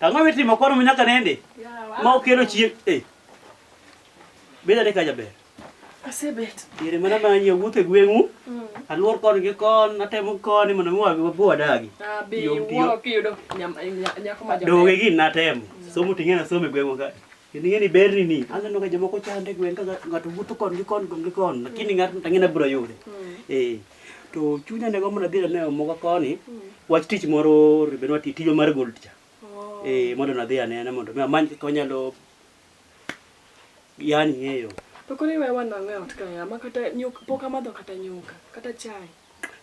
Ang'o mitimo kwano nyaka nende? Ma okelo chieng' eh. Beda de kaja ber. Asebet. Yere mana ma nyie wuothe gweng'u. Mm. Aluor kon gi kon, atemo kon mondo mi wabi wabu adagi. Ah, bi wuoro kiyudo nyako ma jaber. Doge gin natemo. Mm. Somo ting'e na somo e gweng'u ka. Kendo ing'e ni berni ni aneno ka jomoko chande e gweng' ka ng'ato wuotho kon gi kon gi kon lakini mm. ng'ato tang'e nabiro yude. Mm. Eh. To chunya ne gombo nadhi aneno moga koni mm. wach tich moro ribenwa tijwa mar gold cha. Oh. Eh mondo nadhi anene mondo mi amany kaka wanyalo yani ng'eyo. To koni wewe wanang'e ot ka ya makata nyuka pok amadho kata nyuka kata chai.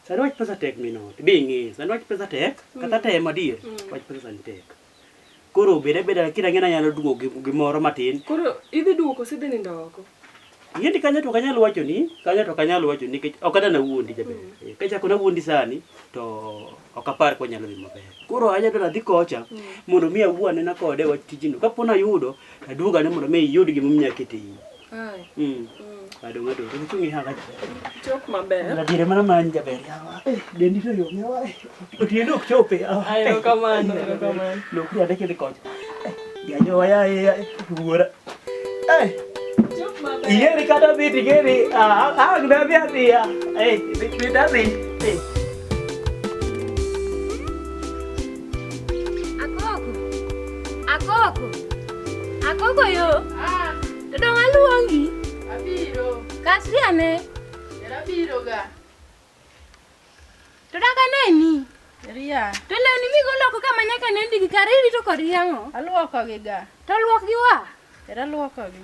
Sani wach pesa tek minot. Bi ng'e. Sani wach pesa tek kata tem adier. Wach pesa ni tek. Koro beda beda lakini ang'e nanyalo duogo gi- gimoro matin. Koro idhi duogo kose idhi nindo oko? Yiendi kanyo to ok anyal wacho ni, kanyo to ok anyal wacho ni nikech ok adwa nawuondi jaber. Eh, Kachako nawuondi sani to ok apar ka wanyalo dhi maber. Koro anya dwaro adhi kocha mondo mi awuo anena kode wach tijno. Kapo nayudo to aduogo ane mondo mi iyud gimomiyo akete iyi. Mm. Bado ng'ato to chungi haka. Chok maber. La dire mana man jaber yawa. Eh, dendi to yo yawa. Otieno ok chope. Ayo kamano, ayo kamano. Lok ya deke de kocha. Ya yo ya ya wuora. Eh. Chok maber. Iye ni kata bi tigeri. Ah, ah, gna bi ati ya. Eh, bi bi dadi. Eh. Akoko. Akoko. Akoko yo. Ah. Dong aluongi. Abiro. Kasri ane. Era biro ga. To daga neni. Ria. To lewni migolo oko kama nyaka ne ndigi kare irito kod yang'o. Aluokogi ga. To luokgi wa. Era luokogi.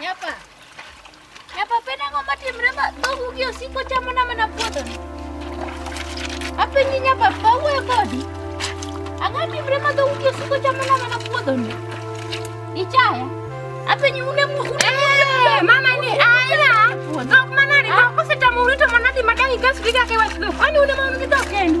Nyapa. Nyapa pena ngo mati mrema togu gi osiko chamo na mana puodho. Apenji nyapa pawu e kodi. Ang'o ni mrema togu gi osiko chamo na mana puodho ni. Ichaya. Apenji une mu une. Eh, mama ni aya. Dok manani dok kosetamo urito manadi madang ikas giga ke wach dok. Ani une ma un gi dok kendu.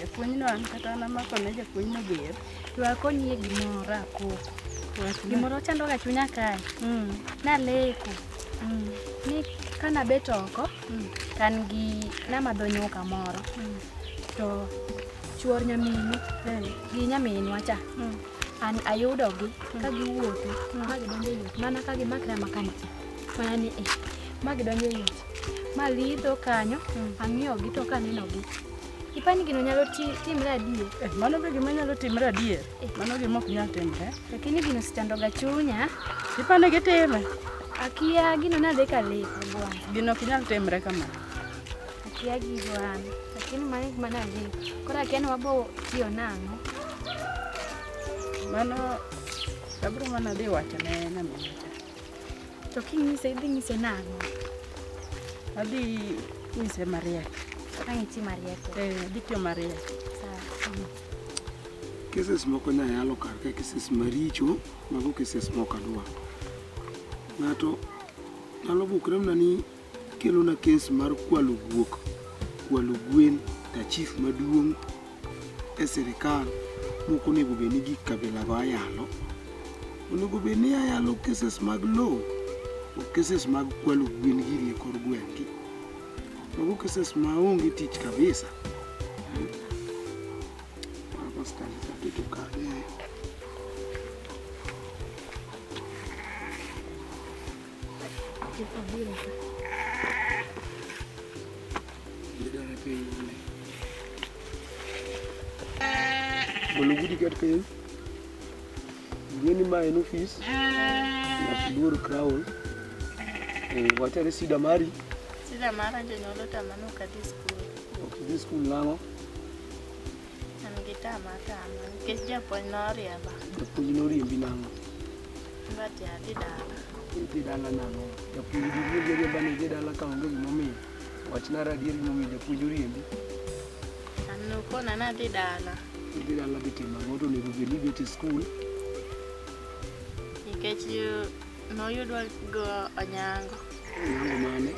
japuonjno an kata an amakone japuonjno ger to akonyi e gimoro akoko gimoro chandoga chunya kae mm. naleko mm. ni kanabet oko mm. kan gi namadho nyuka moro to chuor nyaminu eh. gi nyaminwa cha an ayudogi ka giwuotho ma gidonjo e yot mana ka gimakre makancha mana ni e ma gidonjo e yot ma lidho kanyo ang'iyogi to kanenogi ipani gino nyalo timre adier eh, mano be gima nyalo timre adier eh. mano gima ok nyal timre lakini gino sichandoga chunya ipani gitime akia gino nadhi kaleko bwana gino ok nyal timre kamano Akia gigo an, lakini mano gik mane adhigo. Koro akia ni wabo tiyo nang'o. Mano abiro mana dhi wacho ne nyaminwa cha. To kinyise idhi nyise nang'o? Adhi nyise mariek. Ang' iti mariek. Eh, adhi tiyo mariek. Cases moko nya yalo kar ka cases maricho, mago cases moko adwa. Ng'ato nyalo bukre mana ni Kelona kes mar kwalo guok, kwalo gwen, ta chief maduong' e sirikal moko onego bed ni gik kabilago ayalo. Onego bed ni ayalo cases mag low, ok cases mag kwalo gwen giri e kor gweng'gi. Mago cases ma onge tich kabisa. Mago style ka keto kanye. Bolo gudi kat kayo. Ngeni ma en ofis. Nakudur crown. Eh, wachare sida mari. Sida mara jonyuol otamano ok adhi skul. Ok idhi skul nang'o? An gi tama tama nikech japuonj noriemba. Japuonj noriembi nang'o? Ngati adhi dala. Idhi dala nang'o? Japuonj gi wuod jariemba ni idhi dala ka onge gimomiyo. Wachna radier gimomiyo japuonj oriembi. An nokona nadhi dala. Idhi dala dhi timo ang'o to onego bed ni ibet e skul. Nikech noyudwa go Onyango. Onyango mane?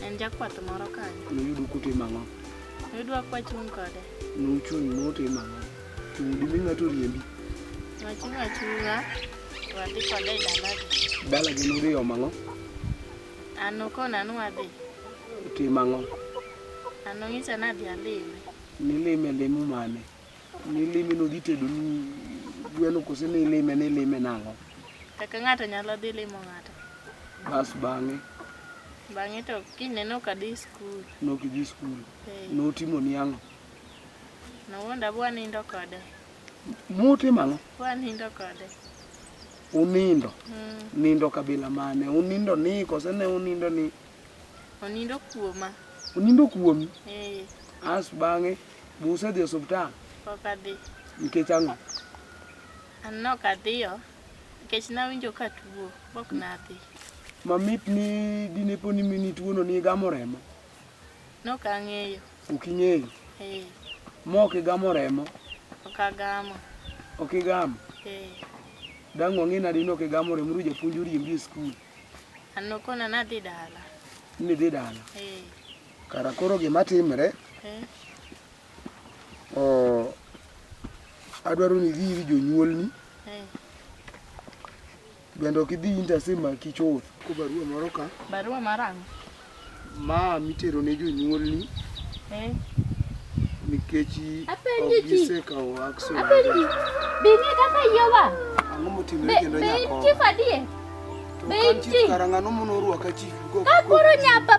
En jakwath moro kanyo. Noyudu kutimo ang'o? Noyudwa kwachung' kode. Nuchung' nutimo ang'o? Dimi ng'ato riembi. Wachung' achung'a to wadhi koda e dalagi. Dala gin uriyo mang'o? An nokona ni wadhi. Tim ang'o? An nong'isa ni adhi alime. Nilime limo mane? Nilime nodhi tedoni gweno kose nilime nilime nang'o? Kaka ng'ato nyalo dhi limo ng'ato. Bas bang'e? Bang'e to kinyne nok adhi skul. Nok idhi skul? Ee. Notimoni ang'o? Nawuonda bwa nindo kode. Muti mano? Bwa nindo kode. Unindo? Mm. Nindo kabila mane? Unindo ni kose ne unindo ni? Unindo kuoma. Unindo kuomi? Eh. As bang'e buse dhi osuptal? Pok adhi. Nikech ang'o? An nok adhiyo. Nikech nawinjo ka tuo. Pok nadhi. Mamit ni dinepo ni mini tuono ni igamo remo? Nokang'eyo. Ok ing'eyo? Eh. Mok igamo remo? Ok agamo. Ok igamo? Eh. Dang' wang'e nadi nok igamo remo ru japuonj oriembi e skul? An nokona nadhi dala. Nidhi dala? Eh. Kara koro gima timre? Eh. Oh, adwaro ni idhi ir jonyuolni. Eh. Bende ok idhi intersim maki chuth. Ko barua moro ka. Barua marang'. Ma mitero ne jonyuolni. Eh. Nikech ok gisekawo action. Apenji. Bing'e kaka yiwa. Ang'o motimre kendo nyako? Be chief adie? Be chief. Karang'ano mono ruaka chief. Kakoro nyapa.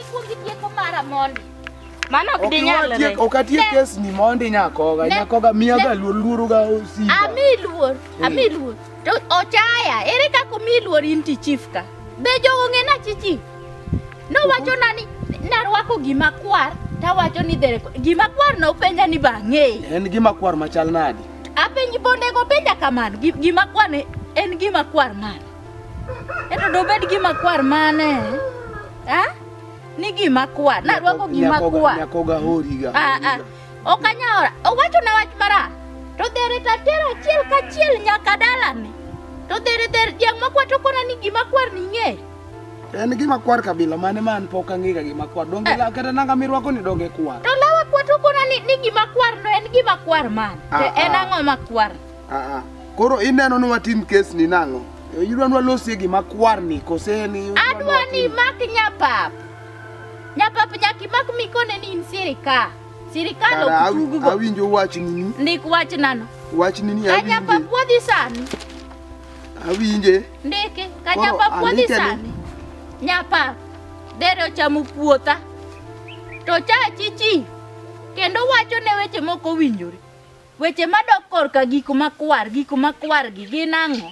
Mano ok dinyalre. Okiwatiek okatiek kes ni mondi nyakoga nyakoga miya ga luor luoro ga osi. Ami luor, eh. ami luor. To ochaya, ere kaka mi luor inti chief ka? Be jogo ng'ena chichi. No wacho nani narwako gima kwar tawacho ni dhere gima kwar no penja ni bang'e. En gima kwar machal nadi? Apenji bondego penja kamano gima kwar en gima kwar mano. Eto dobed gima kwar mane? Ha? Ni gima kwar. Na rwako gima kwar. Nyakoga horiga. Ah ah. Okanyora. Owacho na wach mara. To dere ta tera chiel ka chiel nyaka dalane. To dere dere yang makwa to kona ni gima kwar ni ng'e. En gima kwar kabila mane man pok ang'ega gima kwar. Donge eh. kata nanga mirwako ni donge kwar. To lawa kwa to kona ni, ni gima kwar no en gima kwar man. Ah, en ah. ang'o makwar? Aa, koro ineno ni watim kes ni nang'o? Idwa ni walosie gima kwar ni kose ni? Adwa ni mak nyapap. Nyapap nyaki mak mikone ni in sirika. Sirikal ok tug go. Awinjo wach nini? Ndik wach nano. Wach nini awinje? Nyapap wadhi sani. Awinje. Ndike, ka nyapap wadhi sani. Nyapap, dere ochamo puotha. To cha chichi, kendo wacho ne weche moko winjore. Weche madok korka gik makwar, gik makwar gi gin ang'o?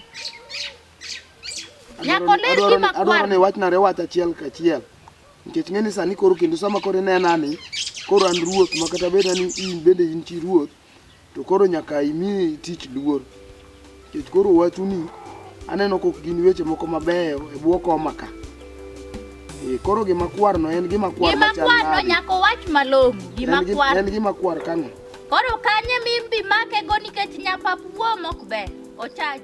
Nyako ler gi makwar. Adwaro ni wachna re wach achiel kachiel. Nikech ng'eni sani koro kendo sama koro inena ni koro an ruoth ma kata beda ni in bende in chi ruoth to koro nyaka imi tich luor. Nikech koro wachuni aneno kok gin weche moko mabeyo e bwo koma ka. Eh, koro gima kwar no en gima kwar Gima machal kwano nade? nyako wach malong'o, gima En gi- kwar. En gima kwar kang'o? Koro kanye mimbi make go nikech nyapap wuo mok ber. Ochaji.